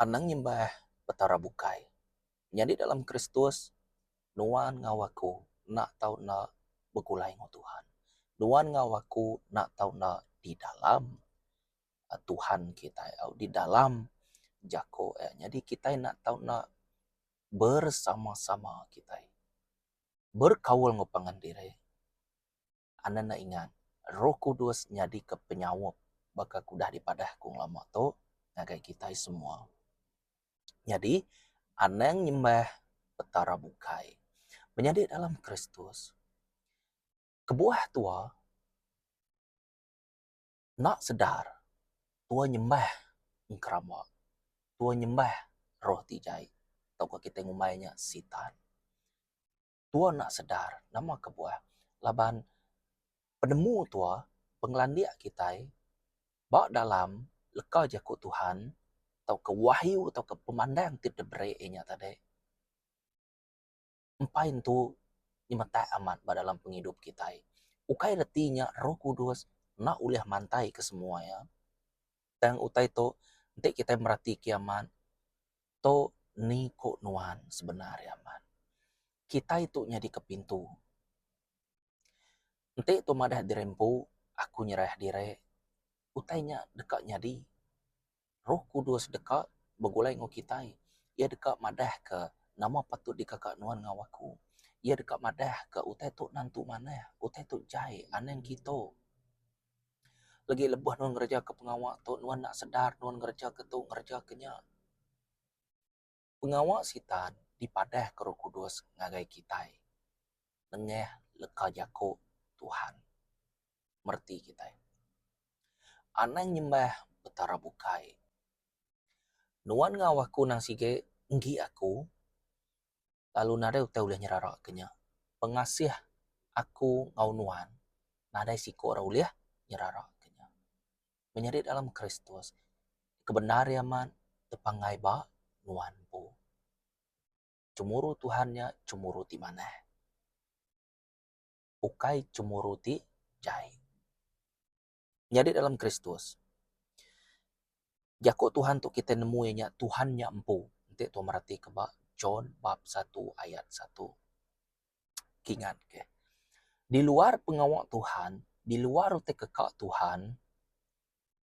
Anang nyembah Petara bukai. Nyadi dalam Kristus, nuan enggau aku enda tau enda begulai enggau Tuhan. Nuan enggau aku enda tau enda di dalam. Tuhan kitai au di dalam jako iya. Nyadi kitai enda tau enda bersama-sama kitai berkaul enggau pangan diri anda enda ingat roh kudus nyadika penyaup baka ku udah dipadah ku ngelama tu ngagai kitai semua. Nyadi anang nyembah petara bukai menyadi dalam Kristus kebuah tua. Enda sedar tua nyembah engkerama, tua nyembah roh ti jai tauka kitai ngumbai nya sitan. Tua enda sedar nama kebuah laban penemu tua, pengelandik kitai ba dalam leka jaku Tuhan tauka wahyu tauka pemandang ti diberi inya tadi. empai entu nyemetak amat ba dalam pengidup kitai. Ukai reti nya Roh Kudus enda ulih mantaika semua iya. Tang utai tu enti kitai meratike amat tu ni ku nuan sebenar iya amat. Kitai tu nyadi ke pintu. Enti tu madah diri empu, aku nyerah diri, utai nya deka nyadi. Roh Kudus deka begulai enggau kitai. Iya deka madahka nama patut dikaka nuan enggau aku. Iya deka madahka utai tu nentu manah, utai tu jai anang kitu. Legi lebuh nuan ngerejaka pengawa tu nuan enda sedar nuan ngereja ke tu ngereja ke nya. Pengawa Sitan dipadahka Roh Kudus ngagai kitai nengah leka jaku Tuhan mereti kitai anang nyembah Petara bukai. Nuan enggau aku nang sigi enggi aku, lalu nadai utai ulih nyeraraka nya. Pengasih aku enggau nuan nadai siku ra ulih nyeraraka nya. menyadi dalam Kristus, ke bendar iya amat tepanggai ba nuan empu. Chemuru Tuhan nya chemuru ti manah, ukai chemuru ti jai. Nyadi dalam Kristus, jaku Tuhan tu kitai nemu iya nya Tuhan nya empu. Enti tuan meratika ba John bab satu ayat satu. Kingat ke. Di luar pengawa Tuhan, di luar utai keka Tuhan,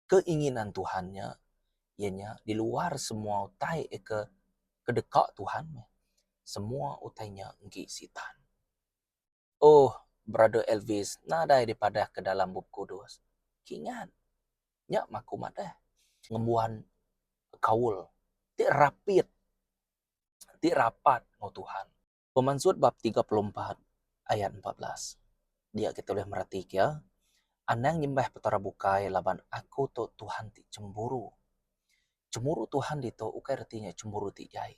keinginan Tuhan nya, iya nya di luar semua utai ke kedeka Tuhan, semua utai nya enggi Sitan. Oh, Brother Elvis, nadai dipadahka dalam Bup Kudus. Kingat. Nya maku madah. Ngembuan kaul ti rapit, ti rapat enggau Tuhan. Pemansut bab tiga puluh empat ayat empat belas. Dia kita ulih mereti kia, Anang nyembah petara bukai laban aku tu Tuhan ti chemburu. Chemburu Tuhan ditu ukai reti nya chemburu ti jai.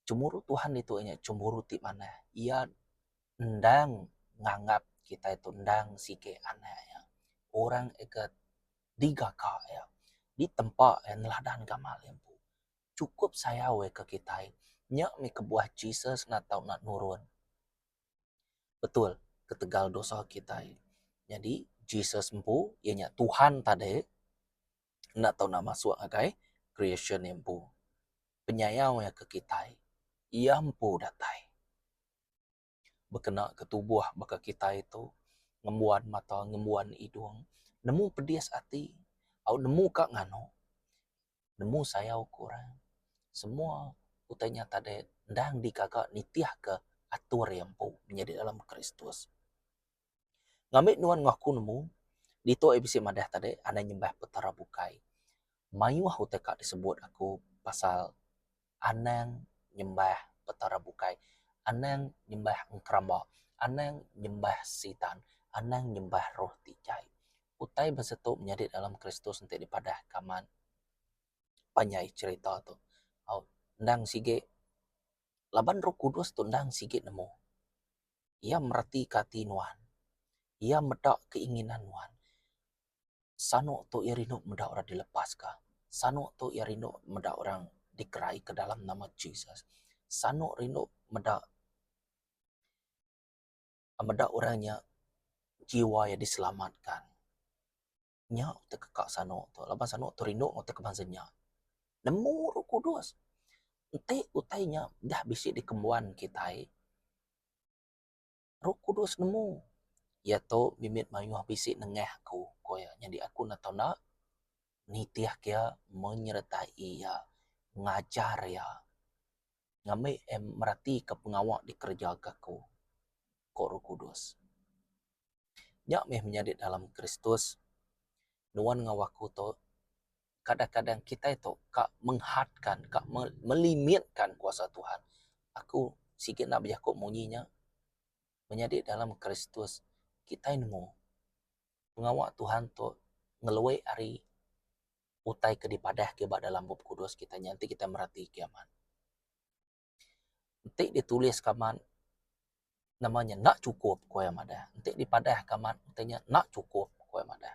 Chemburu Tuhan ditu nya chemburu ti manah. Iya endang nganggap kitai tu endang sigi anak iya. Orang ke digaka iya, ditempa iya neladan gamal iya empu. chukup sayau ai ke kitai. Nya mih kebuah Jesus enda tau nak nurun betul ketegal dosa kitai. Nyadi Jesus empu iya nya Tuhan tade enda tau nak masuk ngagai creation iya empu. Penyayau iya ke kitai. Iya empu datai. bekena ke tubuh baka kitai tu ngembuan mata ngembuan hidung nemu pedis ati au nemu ka nganu nemu sayau ku orang semua utai nya tade endang dikaga nitihka atur iya empu menyadi dalam Kristus. Ngambi nuan ngaku nemu, ditu ai bisi madah tadi anang nyembah petara bukai. Mayuh utai ka disebut aku pasal anang nyembah petara bukai, anang nyembah enkrama, anang nyembah sitan, anang nyembah roh ti jai. Utai bisi tu nyadi dalam Kristus enti dipadah kaman panjai cherita tu. Au endang sigi laban roh kudus tu endang sigi nemu. Iya meratika ati nuan. Iya meda keinginan nuan. Sanu tu iya rindu meda orang dilepaska. Sanu tu iya rindu meda orang dikeraika dalam nama Jesus. Sanu rindu meda meda orang nya jiwa iya diselamatka. Nya utai ke kak sano tu laban sano tu rindu ke utai ke bansa nya. Nemu roh kudus enti utai nya dah bisi dikembuan kitai roh kudus nemu iya tu mimit mayuh bisi nengah aku ku iya nyadi aku enda tau enda nitih ke iya menyertai iya ngajar iya ngambi meratika pengawa dikereja ka aku ko roh kudus. Nya meh menyadi dalam Kristus. Nuan enggau aku tu, kadang-kadang kitai tu ka menghadka, ka melimitkan kuasa Tuhan. Aku sigi enda bejaku munyi nya. Menyadi dalam Kristus, kitai nemu pengawa Tuhan tu ngelui ari utai ke dipadah ke ba dalam Bup Kudus kitai nya enti kitai mereti kiye amat. Enti ditulis ke amat nama nya enda cukup ku iya madah. Enti dipadah ke amat ntu nya enda cukup ku iya madah.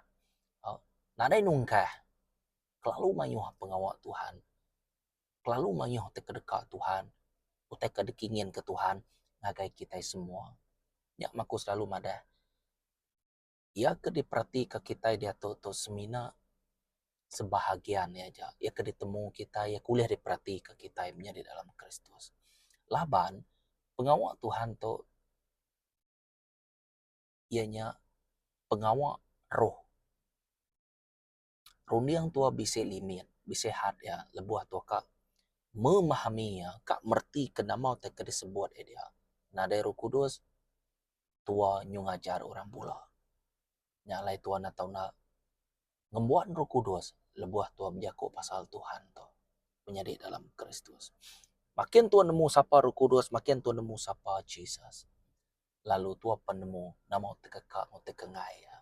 Au nadai nungkah kelalu mayuh pengawa Tuhan kelalu mayuh ti kedeka Tuhan utai ke dikingin ke Tuhan ngagai kitai semua. Nya aku selalu madah. iya ke diperatika kitai diatu tu semina sebahagian iya aja. Iya ke ditemu kitai, iya ke ulih diperatika kitai menyadi dalam Kristus. Laban, pengawa Tuhan tu iya nya pengawa roh. runding tua bisi limit, bisi had iya lebuh tua ka memahami iya, ka mereti ke nama ti ke disebut iya diak. Nadai Roh Kudus, tua nyu ngajar orang bula. Nya alai tua enda tau nak ngembuan Roh Kudus lebuh tua bejaku pasal Tuhan tu menyadi dalam Kristus. Makin tua nemu sapa Roh Kudus, makin tua nemu sapa Jesus, lalu tua pen nemu nama ti ke ka enggau ti ke enggai iya.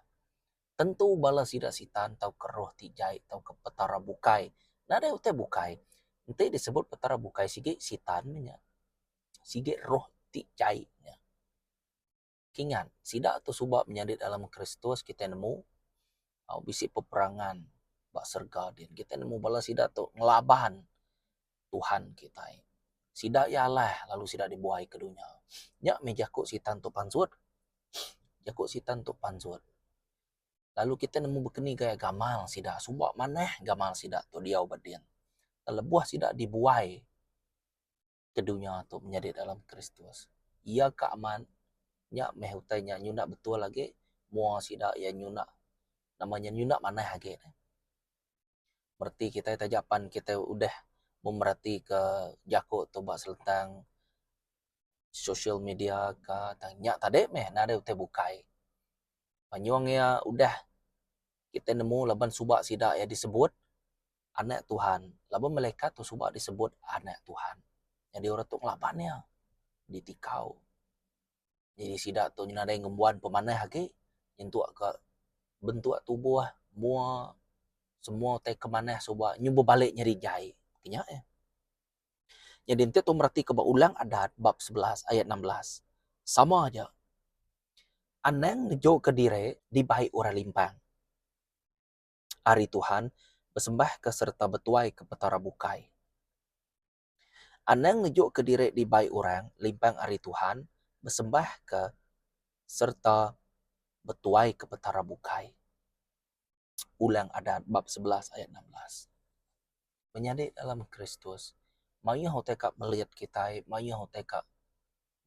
Tentu bala sida Sitan tauka roh ti jai tauka petara bukai. Nadai utai bukai. Enti disebut petara bukai sigi Sitan meh nya. Sigi roh ti jai nya. Kingat, sida tu suba menyadi dalam Kristus kitai nemu bisi peperangan ba serega din. Kitai nemu bala sida tu ngelaban. Tuhan kitai. Sida iya alah lalu sida dibuai ke dunya. Nya meh jaku Sitan tu pansut. Jaku Sitan tu pansut. Lalu kitai nemu bekeni gaya gamal sida. Suba manah gamal sida tu diau ba din. Lebuh sida dibuai ke dunya tu menyadi dalam Kristus. Iya ka amat. Nya meh utai nya nyunak betul agi. Mua sida iya nyunak, nama nya nyunak manah agi. mereti kitai taja pan kitai udah memeratika jaku tu ba selentang sosial media ka tang nya tadi meh nadai utai bukai. Penyung iya udah kitai nemu laban suba sida iya disebut anak Tuhan laban melekat tu suba disebut anak Tuhan. Jadi orang tu ngelaban iya ditikau. Nyadi sida tu nyadi nadai ngembuan pemanah agi nyentuk ka bentuk tubuh mua semua utai ke manah suba nyau bebalik nyadi jai nya eh. Nyadi enti tu mereti ka ba Ulang Adat bab sebelas ayat enam belas sama aja anang ngejo ka diri dibai orang limpang ari Tuhan besembah ka sereta betuai ka petara bukai. Anang ngejukka diri dibai orang limpang ari Tuhan, besembahka sereta betuaika Petara bukai. Ulang Adat bab sebelas ayat enam belas. Menyadi dalam Kristus mayuh utai ka melit kitai, mayuh utai ka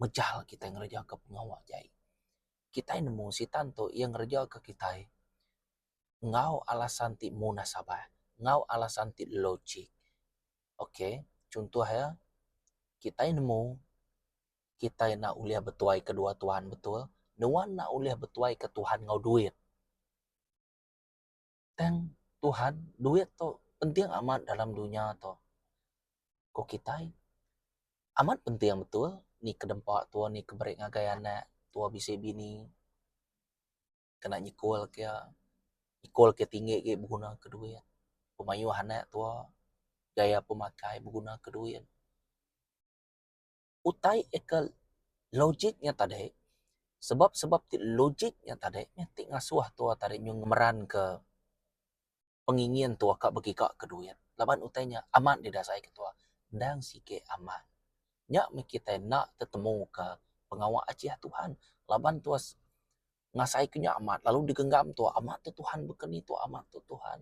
mejal kitai ngerejaka pengawa ke ai. Kitai nemu Sitan tu iya ngerejaka kitai enggau alasan ti monas abah, enggau alasan ti logik. Ok, chuntoh iya, kitai nemu, kitai enda ulih betuai kedua Tuhan betul, nuan enda ulih betuai ke Tuhan enggau duit. Tang Tuhan, duit tu penting amat dalam dunya tu. Ku kitai, amat penting betul, ni ke dempa tua, ni ke beri ngagai anak, tua bisi bini. kena nyekul ke iya, nyekul ke iya tinggi agi beguna ke duit, pemayuh anak tuwa, gaya pemakai beguna ke duit. Utai iya ke logik nya tadi, sebab-sebab ti logik nya tadi, nya ti ngasuh tuwa tadi nyuh ngemeranka. pengingin tua ka begiga ke duit laban utai nya amat deh dasai ke tua endang sigi amat. Nya meh kitai enda tetemu ka pengawa achiah Tuhan laban tua ngasai ke nya amat lalu digenggam tua amat tu Tuhan beken ni tua amat tu Tuhan.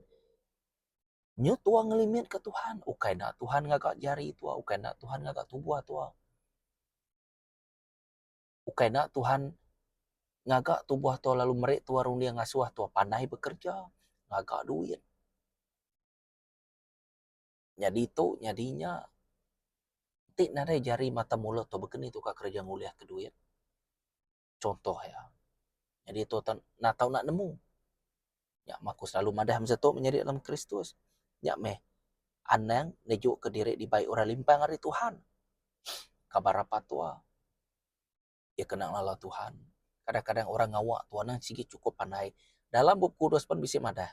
Nyu tua ngelimit ka Tuhan ukai enda Tuhan ngaga jari tua ukai enda Tuhan ngaga tubuh tua. Ukai enda Tuhan ngaga tubuh tua lalu meri tua runding ngasuh tua panai bekerja ngaga duit. Nyadi tu nyadi nya ti nadai jari mata mulut tu baka ni tu ka kerja ngulih ka duit. Contoh iya. Nyadi tu natau enda nemu. Nya meh aku selalu madah masa tu menyadi dalam Kristus. Nya meh anang nejuka diri dibai orang limpang ari Tuhan. Kabar apat tua. Iya kena ngelala Tuhan. Kadang-kadang orang ngawa tua nang sigi chukup pandai. Dalam Bup Kudus pen bisi madah.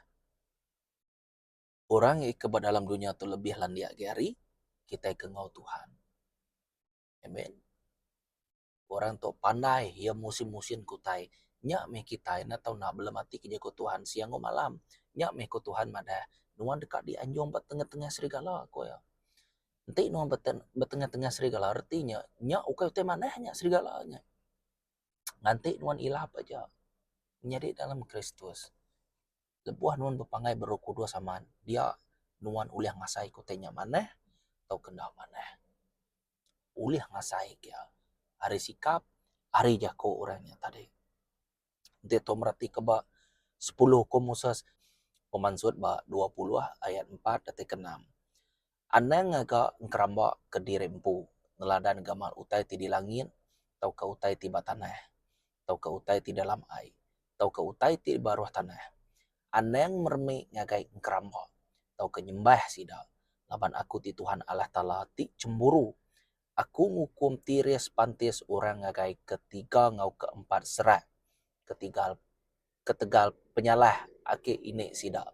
Orang ika ba dalam dunya tu lebih landik agi ari kitai ke enggau Tuhan. Amen. Orang tu pandai iya musin-musin ke utai. Nya meh kitai enda tau naap belem ati ke jaku Tuhan siang enggau malam. Nya meh ku Tuhan madah, Nuan deka dianjung ba tengah-tengah serigala, ku iya. Enti nuan ba ba tengah-tengah serigala reti nya, nya ukai utai manah nya serigala nya. Nganti nuan ilap aja nyadi dalam Kristus. Lebuh nuan bepanggai ba Roh Kudus amat, dia nuan ulih ngasai ke utai nya manah tauka enda manah. ulih ngasai iya ari sikap ari jaku orang nya tadi. Enti tu meratika ba sepuluh hukum Moses pemansut ba dua puluh ayat empat teti ke enam. Anang ngaga engeramba ke diri empu neladan gamal utai ti di langit tauka utai ti ba tanah. tauka utai ti dalam ai tauka utai ti baruh tanah. Anang meremi ngagai engkeramba tauka nyembah sida, laban Aku ti Tuhan Allah Taala ti chemburu. Aku ngukum tiris pantis orang ngagai ketiga enggau keempat serak ketigal ketegal penyalah agi ini sida.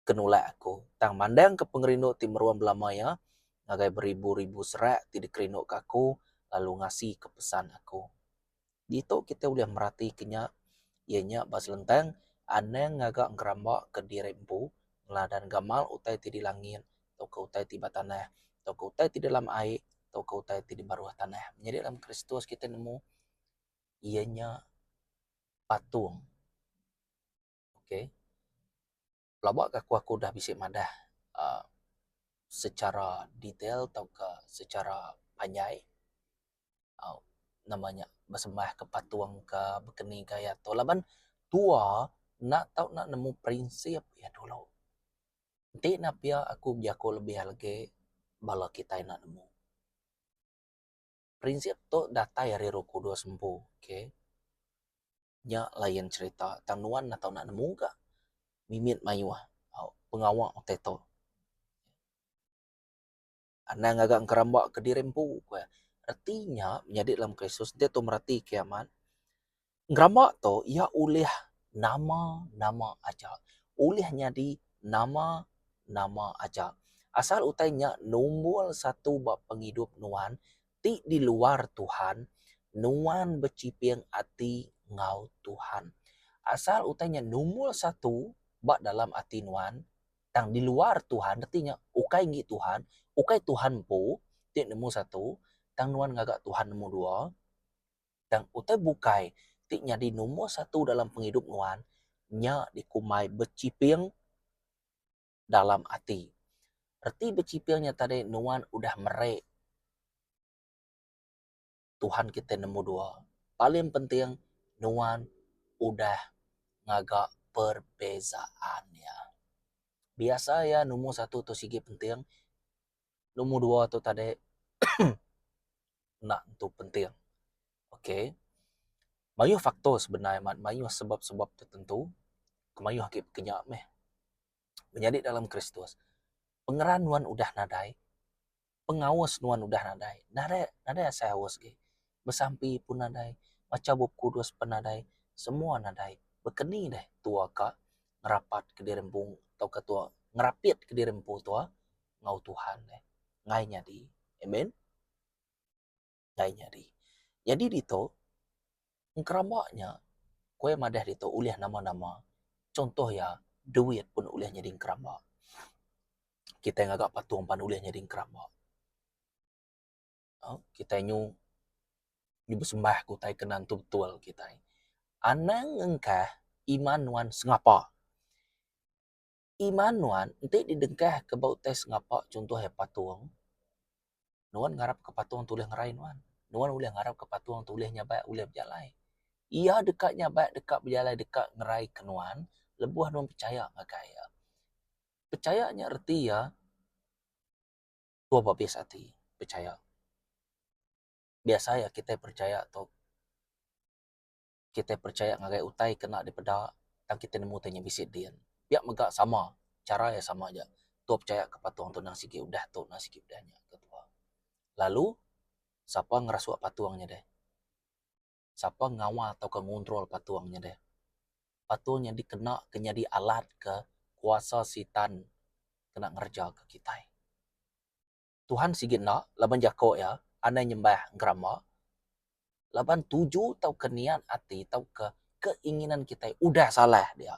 ke nulak aku, tang mandangka pengerindu ti meruan belama iya ngagai beribu-ribu serak ti dikerinduka aku lalu ngasika pesan aku. Ditu kitai ulih meratika nya, iya nya ba selentang anang ngaga ngerambaka diri empu neladan gamal utai ti di langit tauka utai ti ba tanah tauka utai ti dalam ai tauka utai ti di baruh tanah. Nyadi dalam Kristus kitai nemu iya nya patung. ok pelaba ke aku udah bisi madah uhh secara detail tauka secara panjai uhh nama nya besembah ke patung ka bekeni ka iya tu laban tua enda tau nak nemu prinsip iya dulu enti nya pia aku bejako lebih lagi bala kitai enda nemu. Prinsip tu datai ari roh kudus empu. Okay. Nya lain cerita. Tang nuan enda tau nak nemu ga mimit mayuh pengawa utai tu. Anang ngaga ngeramba kediri empu. Reti nya nyadi dalam Kristus. Enti tu mereti kimet. Ngeramba tu iya ulih nama-nama aja. Ulih nyadi nama-nama aja. Asal utai nya numbul satu ba pengidup nuan ti di luar Tuhan, nuan bechiping ati enggau Tuhan. Asal utai nya numbul satu ba dalam ati nuan tang di luar Tuhan reti nya ukai enggi Tuhan, ukai Tuhan empu ti nemu satu tang nuan ngaga Tuhan nemu dua. tang utai bukai ti nyadi nombor satu dalam pengidup nuan nya dikumbai bechiping dalam ati. Reti bechiping nya tadi nuan udah merei Tuhan kitai nombor dua. Paling penting nuan udah ngaga perbezaan iya. Biasa iya nombor satu tu sigi penting Nombor dua tu tadi enda tentu penting. Ok. Mayuh faktor sebenar amat mayuh sebab-sebab tertentu ke mayuh agi pekenya meh. Menyadi dalam Kristus, pengeran nuan udah nadai, pengaus nuan udah nadai. Nadai, nadai asai aus agi. Besampi pun nadai, macha Bup Kudus pun nadai, semua nadai. Baka ke ni deh tua ka ngerapatka diri empu tauka tua ngerapitka diri empu tua? enggau Tuhan deh enggai nyadi. Amen. Enggai nyadi. Nyadi ditu engkeramba nya ku iya madah ditu ulih nama-nama chuntoh iya duit pun ulih nyadi engkeramba. Kitai ngaga patung pan ulih nyadi engkeramba. Au kitai nyu nyu besembah ke utai ke nan tu betul kitai. Anang engkah iman nuan sengapa. Iman nuan enti didengkahka ba utai sengapa chunto iya patung, nuan ngarapka patung tu ulih ngerai nuan. Nuan ulih ngarapka patung tu ulih nyabat, ulih bejalai. Iya deka nyabat, deka bejalai, deka ngeraika nuan lebuh nuan pechaya ngagai iya. Pechaya nya reti iya tua babis ati, pechaya. Biasa iya kitai pechaya tu. kitai percaya ngagai utai kena dipeda tang kitai nemu utai nya bisi din. Pia mega sama, chara iya sama aja. Tua percaya ke patung tu nang sigi udah tu nang sigi udah nya ke tua. Lalu sapa ngerasuk patung nya deh, sapa ngawal tauka ngontrol patung nya deh. Patung nya dikena ke nyadi alat ke kuasa sitan kena ngereja ke kitai. Tuhan sigi enda laban jako iya anai nyembah gerama laban tuju tauka niat ati tauka keinginan kitai udah salah dia.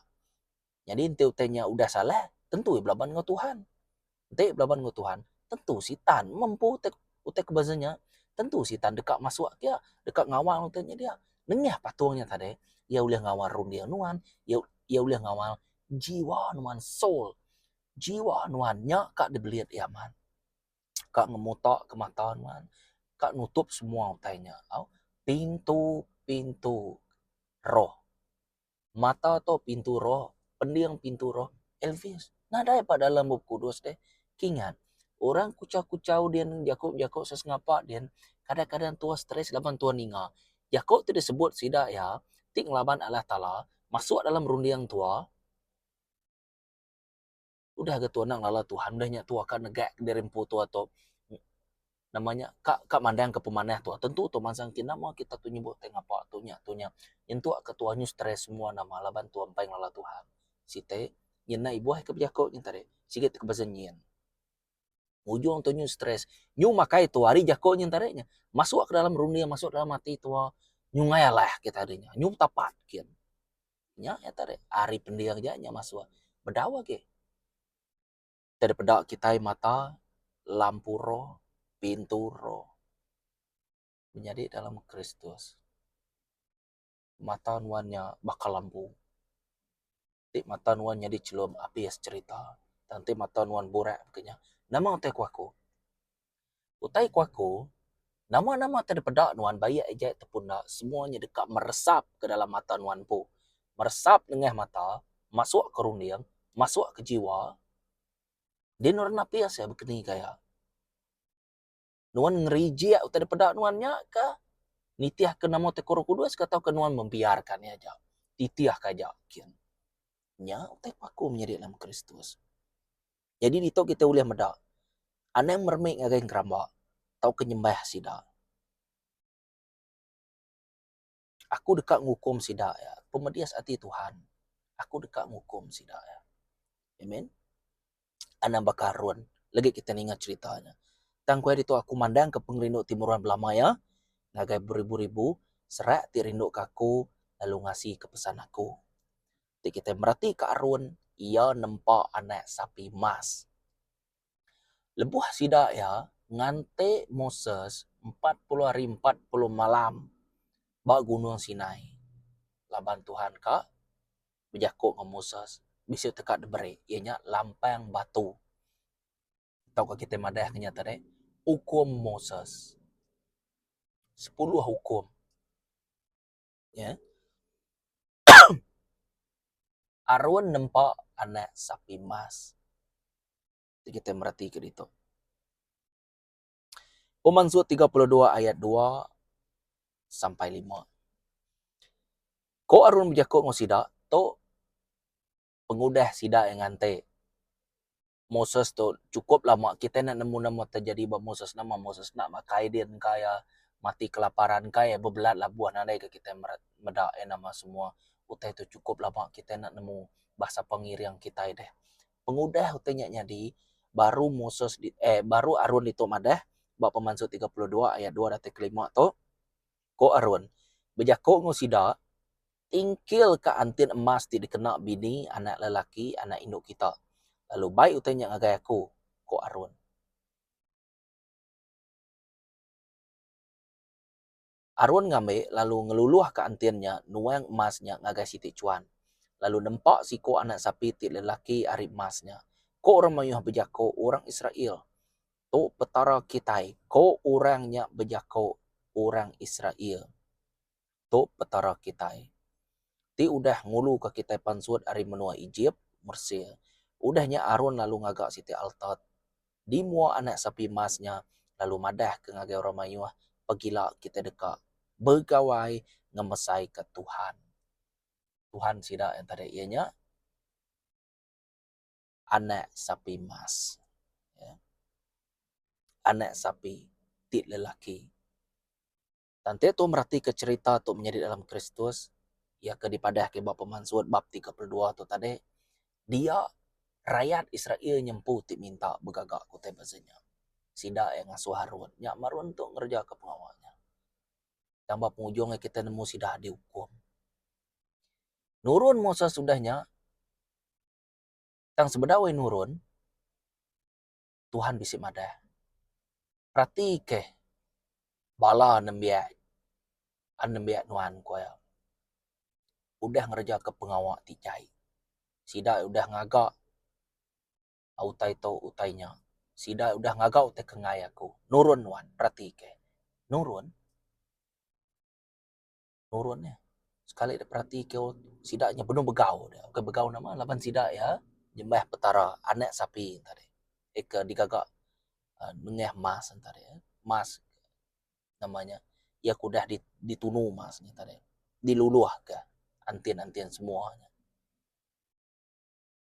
Nyadi enti utai nya udah salah tentu iya belaban enggau Tuhan. Enti iya belaban enggau Tuhan tentu sitan mempu utai utai ke beza nya tentu sitan deka masuk agi iya deka ngawal utai nya dia. Nengah patung nya tadi iya ulih ngawal runding nuan, iya iya ulih ngawal jiwa nuan, soul. Jiwa nuan nya ka dibelit iya amat. Ka ngemutaka mata nuan. Ka nutup semua utai nya. Au, pintu-pintu roh. Mata tu pintu roh, pending pintu roh. Elvis, nadai pa dalam Bup Kudus deh. Kingat, orang kuchau-kuchau din, jaku-jaku sesengapa din, kadang-kadang tuoh stress laban tuoh ninga. Jaku ti disebut sida iya, ti ngelaban Allah Taala, masuk dalam runding tuoh. Udah ga tu anak ngelala Tuhan udah nya tua ka negak diri empu tua tu nama nya ka ka mandangka pemanah tua tentu tua mansang enti nama kita tu nyebut ti ngapa tu nya tu nya nyentuk ka tua nyu stress semua nama laban tua mpai ngelala Tuhan. Siti nyin nai buah ke bejaku nyin tadi sigi ti besen nyin. Ujung tu nyu stress nyu makai tua ari jaku nyin tadi nya masuk ka dalam runding masuk dalam ati tua nyu ngai alah kita nya nyu tapat gin. Nya iya tadi ari pending aja nya masuk bedau agi. Kita deh peda kitai mata lampu roh, pintu roh menyadi dalam Kristus. Mata nuan nya baka lampu. Ti mata nuan nyadi chelum api serita. Tang ti mata nuan burak ke nya nama utai ku aku? Utai ku aku, nama-nama ti dipeda nuan baik aja ataupun enda semua nya deka meresap ke dalam mata nuan empu. Meresap nengah mata, masuk ke runding, masuk ke jiwa. Di nuan napi asai bekeni ke aya? Nuan ngerijik utai dipeda nuan nya kah nitih ke nama ti ke Orang Kudus kah tauka nuan membiarka nya aja, titih ke aja? Kin. Nya utai ku aku menyadi dalam Kristus. Nyadi ditu kitai ulih meda anang meremik ngagai engeramba tauka nyembah sida. Aku deka ngukum sida iya pemedis ati Tuhan. Aku deka ngukum sida iya. Amen. Anang baka Harun legi kitai ninga cherita nya. Tang ku iya ditu aku mandangka pengerindu ti meruan belama iya ngagai beribu-ribu serak ti rinduka aku lalu ngasika pesan aku. ti kitai meratika arun iya nempa anak sapi emas. Lebuh sida iya nganti Moses empat puluh hari empat puluh malam ba Gunung Sinai laban Tuhan ka bejaku enggau Moses bisi teka diberi iya nya lampang batu tauka kitai madah nya tadi ukum Moses. Sepuluh ukum. Nya Arun nempa anak sapi emas. Ti kitai meratika ditu. Pemansu tiga puluh dua ayat dua sampai lima. Ko Arun bejaku enggau sida, Tu pengudah sida iya nganti. Moses tu cukup lama kitai enda nemu nama terjadi ba Moses nama Moses enda makai din ka iya mati kelaparan ka iya bebelat labuh nadai ka kitai meret meda iya nama semua utai tu cukup lama kitai enda nemu bangsa pengiring kitai deh. Pengudah utai nya nyadi baru Moses eh baru Arun ditu madah ba pemansu tiga puluh dua ayat dua datai ke lima tu ko Arun bejaku enggau sida Ingkil ka antin emas ti dikena bini anak lelaki anak indu kita. Lalu bai utai nya ngagai aku, ku Arun. Arun ngambi lalu ngeluluh ka antin nya nuang emas nya ngagai siti chuan. Lalu nempa siko anak sapi ti lelaki ari emas nya. Ko orang mayuh bejako orang Israel, Tu Petara kitai, ko orang nya bejako orang Israel. Tu Petara kitai, ti udah nguluka kitai pansut ari menua Ejip, Mesir. Udah nya Aron lalu ngaga siti alta di mua anak sapi emas nya lalu madahka ngagai orang mayuh pagila kitai deka begawai ngemesaika Tuhan. Tuhan sida yang tadi iya nya anak sapi emas. Anak sapi ti lelaki. Tanti tu meratika cherita tu menyadi dalam Kristus, iya ke dipadahka ba Pemansut bab tiga puluh dua tu tadi, dia rayat Israel nyempu ti minta begaga ke utai beza nya. Sida iya ngasuh Harun nya marun tu ngerejaka pengawa nya. Tang ba pengujung iya kitai nemu sida diukum. Nurun Moses udah nya, tang sebedau iya nurun, Tuhan bisi madah. Peratikah bala nembiak a nembiak nuan, ku iya. Udah ngerejaka pengawa ti jai. Sida udah ngaga utai tu utai nya. Sida udah ngaga utai ke enggai aku. Nurun nuan, peratikah. Nurun? nurun iya sekali dep berati ke sida nyau benung begau dia bukan begau nama laban sida iya nyembah petara anak sapi enta deh eh ke digaga um nengah mas enta deh mas nama nya iya ke udah ditunu mas enta deh diluluh ka entin entin semua.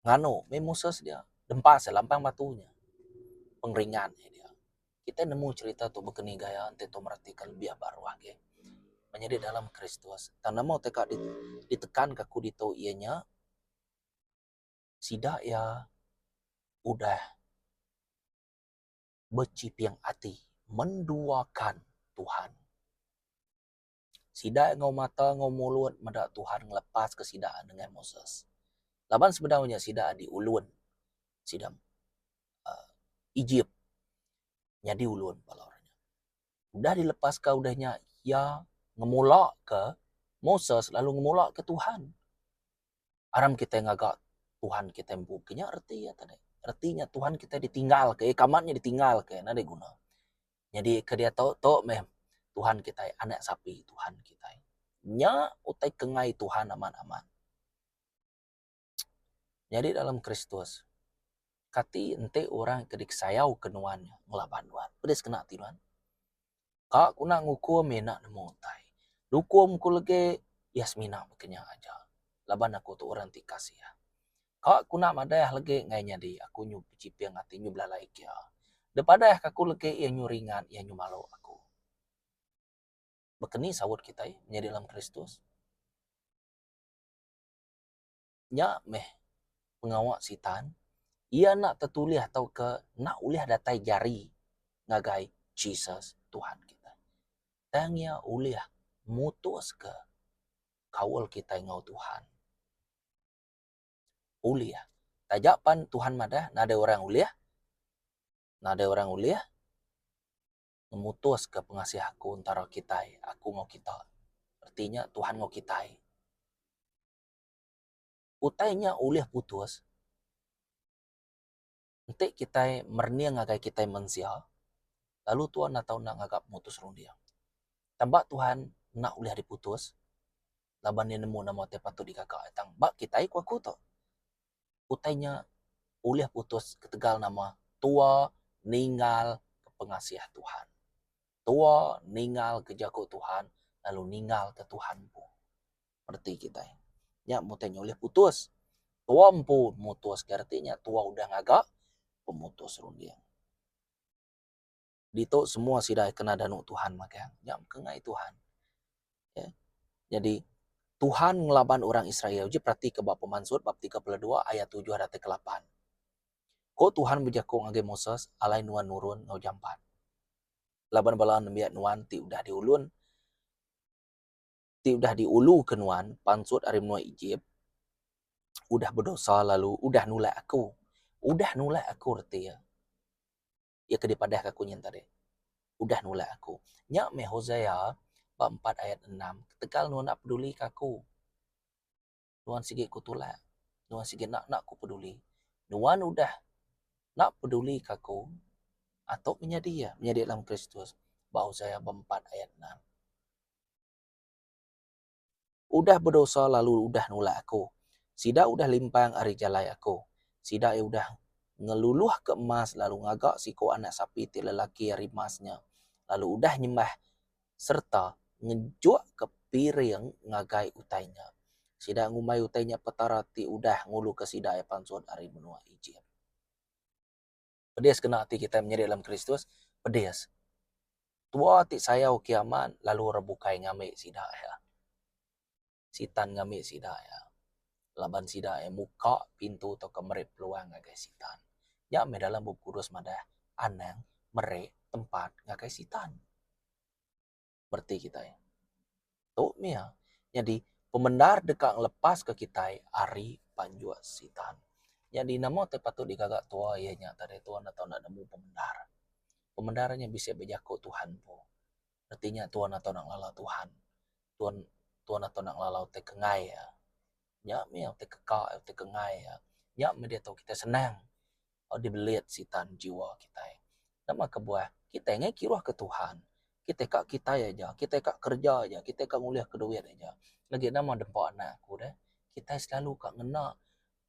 nganu mih Moses dia dempa seh lampang batu nya pengeringat nya dia. Kitai nemu cherita tu baka ni gaya enti kitai meratika lebih ba ruah agi meh nyadi dalam Kristus. Tang nama ti ka ditekan ka aku ditu iya nya sida iya udah bechiping ati menduakan Tuhan. Sida enggau mata enggau mulut meda Tuhan ngelepaska sida dengan Moses. Laban sebedau nya sida adi ulun sida uhh Ejip nyadi ulun bala orang nya. Udah dilepaska udah nya iya ngemulaka Moses lalu ngemulaka Tuhan. Aram kitai ngaga Tuhan kitai empu ke nya reti iya tadi. Reti nya Tuhan kitai ditinggalka iya ke amat nya ditinggalka iya nadai guna. Nyadi ke diatu tu meh Tuhan kitai anak sapi Tuhan kitai. Nya utai ke ngai Tuhan amat amat. Nyadi dalam Kristus kati enti orang ke disayau ke nuan nya ngelaban nuan. Peda sekena ati nuan. Ka ku nak ngukum iya enda nemu utai. Nukum ku legi iya semina meh ke nya aja laban aku tu orang ti kasih. Ka ku enda madah legi ngai nyadi aku nyu bechiping ati nyu belalai kia. Depadah ka ku legi iya nyu ringat iya nyu malu aku. Bekeni saut kitai menyadi dalam Kristus. Nya meh pengawa Sitan iya enda tetulih tauka enda ulih datai jari ngagai Jesus Tuhan kitai. Tang iya ulih mutuska kaul kitai enggau Tuhan. ulih. Taja pan Tuhan madah nadai orang ulih, nadai orang ulih ngemutuska pengasih aku entara kitai, aku enggau kita. Reti nya Tuhan enggau kitai. Utai nya ulih putus. Enti kitai merening ngagai kitai mensia, lalu Tuhan enda tau enda ngaga mutus runding. Tang ba Tuhan enda ulih diputus laban Iya nemu nama ti patut digaga. Tang ba kitai ku aku tu, utai nya ulih putus ketegal nama tua ninggal pengasih Tuhan. Tua ninggal ke jaku Tuhan lalu ninggal ke Tuhan empu. reti kitai. Nya bukai nya ulih putus. Tua empu mutuska reti nya tua udah ngaga pemutus runding. Ditu semua sida kena danu Tuhan magang. Nya ke ngai Tuhan. Okey. Nyadi Tuhan ngelaban orang Israel. Uji peratika ba pemansut bab tiga puluh dua ayat tujuh datai ke lapan. Ko Tuhan bejaku ngagai Moses, Alai nuan nurun enggau jampat. Laban bala nembiak nuan ti udah diulun. ti udah diuluka nuan pansut ari menua Ejip, udah bedosa lalu udah nulak Aku. Udah nulak Aku reti iya. Iya ke dipadahka Aku nyin tadi. Udah nulak Aku. Nya meh Hosea bak empat ayat enam, ketegal nuan enda pedulika Aku. Nuan sigi ku tulak. Nuan sigi enda enda ku peduli. Nuan udah enda peduli ka aku atok menyadi iya, menyadi dalam Kristus. Ba Hosea beempat ayat enam. Udah bedosa lalu udah nulak aku. Sida udah limpang ari jalai aku. Sida iya udah ngeluluhka emas lalu ngaga siku anak sapi ti lelaki ari emas nya, lalu udah nyembah. sereta ngejukka piring ngagai utai nya. Sida ngumbai utai nya Petara ti udah nguluka sida iya pansut ari menua Ejip. Pedis kena ati kitai menyadi dalam Kristus? Pedis. Tua ti sayau kiaman lalu rebukai ngambi sida iya. Sitan ngambi sida iya laban sida iya muka pintu tauka meri peluang ngagai Sitan. Nya meh dalam Bup Kudus madah anang meri tempat ngagai Sitan. Bereti kitai. Tu meh iya. Nyadi pemendar deka ngelepaska kitai ari panjuk Sitan. Nyadi nama ti patut digaga tua iya nya tadi tua enda tau nemu pemendar. Pemendar nya bisi bejaku Tuhan empu. reti nya tuan ato nak ngelala Tuhan tuan tuan ato nak ngelalau ti kengai ia. Nya mih ti keka ia ti kengai ia. Nya mih deh tu kitai senang lalu dibelit sitan jiwa kitai. Nama kebuah kitai neh kiruh ke Tuhan kitai ka kitai aja kitai ka kerja aja kitai ka ngulih ka duit aja legi nama dempa anak ku deh kitai selalu ka ngena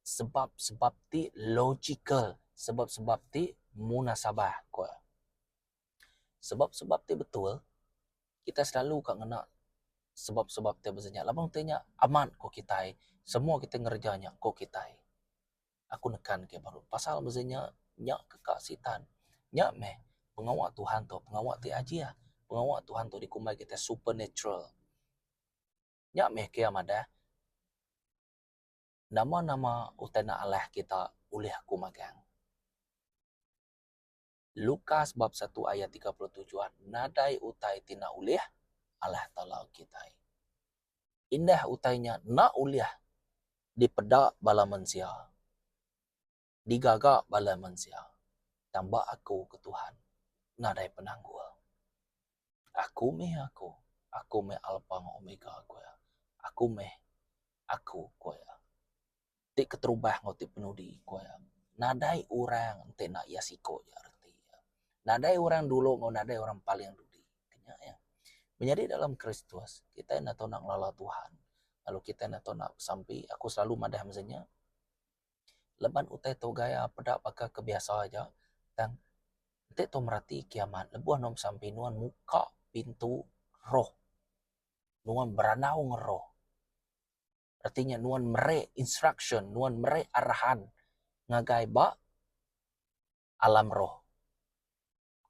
sebab sebab ti logical sebab sebab ti munasabah ku. sebab-sebab ti betul kitai selalu ka ngena sebab-sebab ti bisi nya laban utai nya amat ku kitai semua kitai ngereja nya ku kitai. Aku nekan ke baru pasal bisi nya nya ke ka Sitan nya meh pengawa Tuhan tu pengawa ti ajih pengawa Tuhan tu dikumbai kitai supernatural nya meh kia madah nama-nama utai nalai kita ulih aku magang. Lukas bab satu ayat tiga puluh tujuh nadai utai ti enda ulih Allah Taala kitai. Indah utai nya enda ulih dipeda bala mensia, digaga bala mensia. Tang ba aku ke Tuhan nadai penanggul. Aku meh Aku. Aku meh Alpa enggau Omega, ku Iya. Aku meh Aku, ku Iya. ti keterubah enggau ti penudi ku iya. Nadai orang enti enda iya siko ja reti iya. Nadai orang dulu enggau nadai orang paling dudi. Nya iya. Menyadi dalam Kristus, kitai enda tau enda ngelala Tuhan lalu kitai enda tau enda besampi. Aku selalu madah mesen nya. Leban utai tu gaya peda baka ke biasa aja tang enti tau merati kiamat lebuh nuan besampi nuan muka pintu roh. Nuan berandau ngeroh. reti nya nuan meri instruction nuan meri arahan ngagai ba alam roh.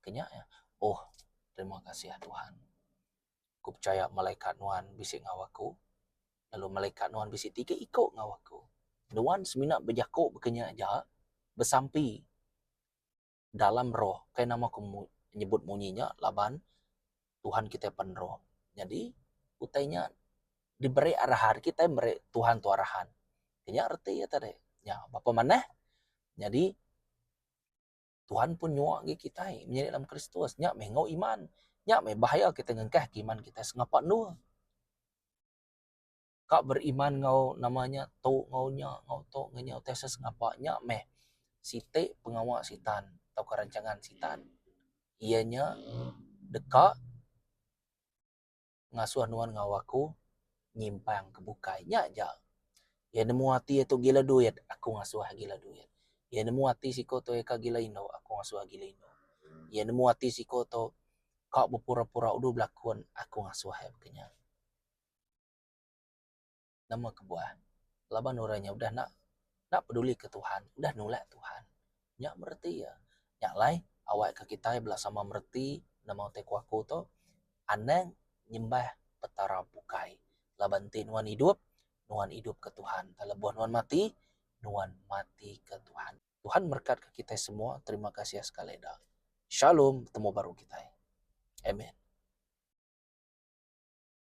Ke nya iya. Oh terima kasih ya Tuhan. Aku pechaya malaikat nuan bisi enggau aku lalu malaikat nuan bisi tiga iko enggau aku. Nuan semina bejako baka nya aja besampi dalam roh. Kai nama aku nyebut munyi nya laban Tuhan kitai pen roh. Nyadi utai nya diberi arahan kitai meri Tuhan tu arahan. Nya reti iya tadi. Nya baka manah nyadi Tuhan pun nyuwa ngi kitai menyadi dalam Kristus. Nya meh enggau iman. Nya meh bahaya kitai ngengkahka iman kitai sengapa endur. ka beriman enggau nama nya tu enggau nya enggau tu enggau nya utai asa sengapa nya meh siti pengawa Sitan tauka rancangan Sitan iya nya deka ngasuh nuan enggau aku nyimpang ke bukai. Nya ja iya nemu ati iya tu gila duit aku ngasuh iya gila duit. Iya nemu ati siko tu iya ka gila indu aku ngasuh iya gila indu. Iya nemu ati siko tu ka bepura-pura udu belakun aku ngasuh iya baka nya. Nama kebuah? Laban orang nya udah enda enda pedulika Tuhan, udah nulak Tuhan. Nya bereti iya. Nya alai awakka kitai bela sama mereti nama utai ku aku tu, anang nyembah petara bukai. Laban enti nuan idup, nuan idupka Tuhan. Tang lebuh nuan mati, nuan matika Tuhan. Tuhan merekatka kitai semua. Terima kasih sekali eda. Shalom. Betemu baru kitai. Amen.